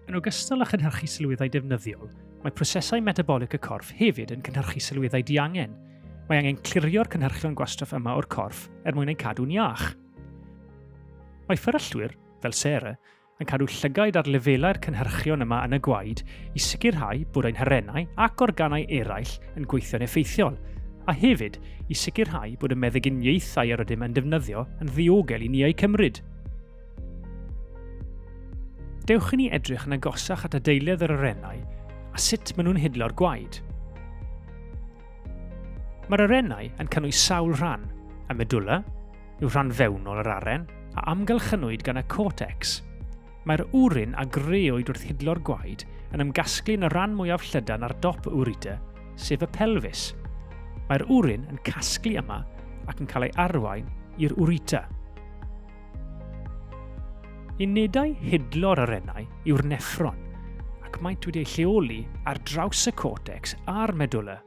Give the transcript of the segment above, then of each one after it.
Yn ogystal â chynhyrchu sylweddau defnyddiol, mae prosesau metabolic y corff hefyd yn cynhyrchu sylweddau diangen. Mae angen clirio'r cynhyrchion gwastraff yma o'r corff er mwyn eu cadw'n iach. Mae fferyllwyr, fel Sarah, yn cadw llygaid ar lefelau'r cynhyrchion yma yn y gwaed i sicrhau bod ein harennau ac organau eraill yn gweithio'n effeithiol, a hefyd i sicrhau bod y meddyginiaethau yr ydym yn defnyddio yn ddiogel i ni eu cymryd. Dewch i ni edrych yn agosach at adeiledd yr arennau a sut maen nhw'n hidlo'r gwaed. Mae'r arennau yn cynnwys sawl rhan, y medulla, yw rhan fewnol yr aren a amgylchynwyd gan y cortex. Mae'r wrin a greoed wrth hidlo'r gwaed yn ymgasglu yn y rhan mwyaf llydan ar dop y ureter, sef y pelfis. Mae'r wrin yn casglu yma ac yn cael ei arwain i'r ureter. Unedau hidlo'r arennau yw'r neffron, ac maent wedi eu lleoli ar draws y cortex a'r medulla.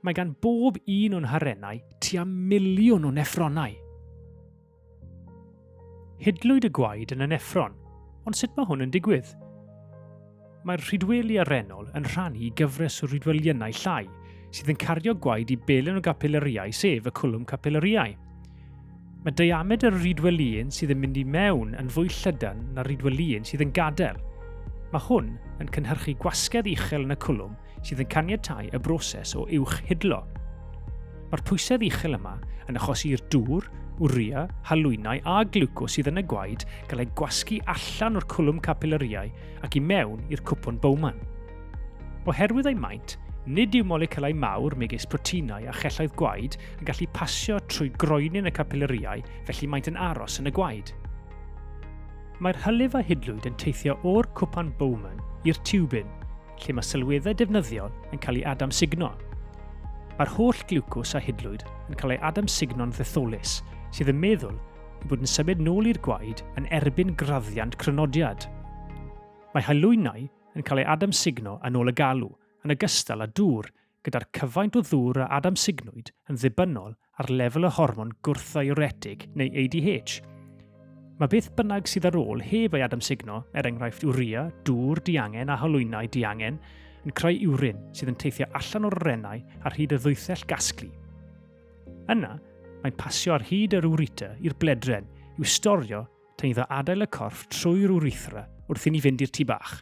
Mae gan bob un o'n harennau tua miliwn o neffronau. Hidlwyd y gwaed yn y neffron, ond sut mae hwn yn digwydd? Mae'r rhydweli arennol yn rhannu i gyfres o rhydweliynau llai sydd yn cario gwaed i belen o gapilariau sef y cwlwm capilariau. Mae diamedr y rhydwelïun sydd yn mynd i mewn yn fwy llydan na'r rhydwelïun sydd yn gadael. Mae hwn yn cynhyrchu gwasgedd uchel yn y cwlwm sydd yn caniatáu y broses o uwch hidlo. Mae'r pwysedd uchel yma yn achosi i'r dŵr, wria, halwynau a glwco sydd yn y gwaed gael ei gwasgu allan o'r cwlwm capilariau ac i mewn i'r cwpwn Bowman. Oherwydd eu maint, nid yw moleciwlau mawr megis proteinau a chelloedd gwaed yn gallu pasio trwy groenyn y capilariau felly maent yn aros yn y gwaed. Mae'r hylif a hidlwyd yn teithio o'r cwpan Bowman i'r tiwbin, lle mae sylweddau defnyddiol yn cael ei adamsugno. Mae'r holl gliwcws a hidlwyd yn cael ei adamsugno'n ddetholus, sydd yn meddwl ei bod yn symud nôl i'r gwaed yn erbyn graddiant crynodiad. Mae halwynau yn cael ei adamsugno yn ôl y galw, yn ogystal â dŵr, gyda'r cyfaint o ddŵr a adamsugnwyd yn ddibynnol ar lefel y hormon gwrthddiuretig neu ADH. Mae beth bynnag sydd ar ôl heb ei adamsugno, er enghraifft urea, dŵr diangen a holwynau diangen, yn creu urin sydd yn teithio allan o'r orennau ar hyd y ddwythell gasglu. Yna, mae'n pasio ar hyd yr ureter i'r bledren i'w storio Ti'n iddo adael y corff trwy'r urethra wrth i ni fynd i'r tu bach.